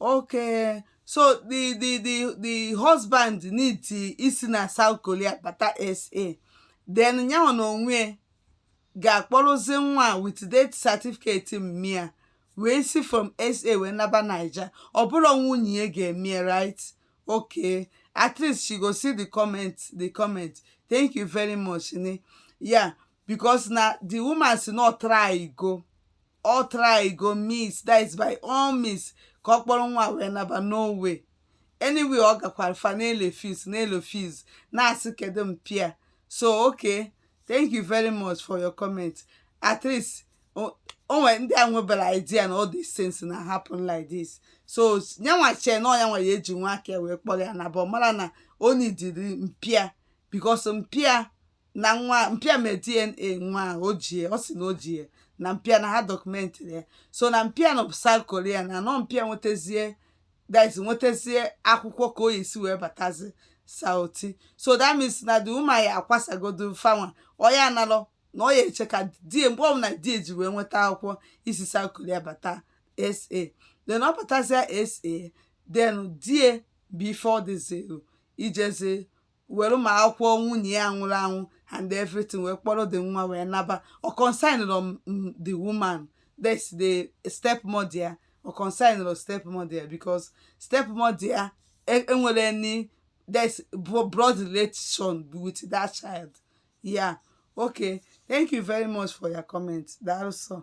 okay so the the the the husband need isi na South Korea bata SA then nyanwa na onwe ga-akpọrọzi nwa with death certificate mma ya wee si from SA wee naba Naija ọ bụrọ nwunye ya ga-eme ya right okay at least she go see the comment the comment thank you very much ne yeah because na the woman sị na ọ trygo ọ trygo means that is by all means ka ọ kpọrọ nwa wee naba no way anywhere ọ gakwara fa na-erefuse na-erefuse na-asị kedu mpa ya so okay thank you very much for your comment at least o o nwere ndị enweberọ idea na all these things na-happen like this so nyanwa chee na nyanwa ya-eji nwa aka ya wee kpọrọ ya naba ọ marọ na o needịrị mpa ya because mpa ya na nwa mpa ya mee DNA nwa ahụ o ji ya ọ sị na o ji ya na mpa ya na ha documentịrị ya so na mpa ya nọ South Korea na nọ mpa ya nwetazie that nwetazie akwụkwọ ka ọ ya-esi wee batazi Southy so that means na the woman ya akwasagodo fanwa ọ ya analọ na ọ ya-eche ka di ya mgbe ọbụla di ya ji wee nweta akwụkwọ isi South Korea bata SA then ọ batazia SA then di ya bụ ife ọ dịzịrụ ijezi were ma akwụkwọ nwunye ya nwụrụ anwụ and everything wee kpọrọ the nwa wee naba ọ concernrọ the woman that's the step mother ya ọ concernrọ the step mother ya because step mother ya e- enwerọ any that's blood relation with that child yeah okay thank you very much for your comment daalụ sọ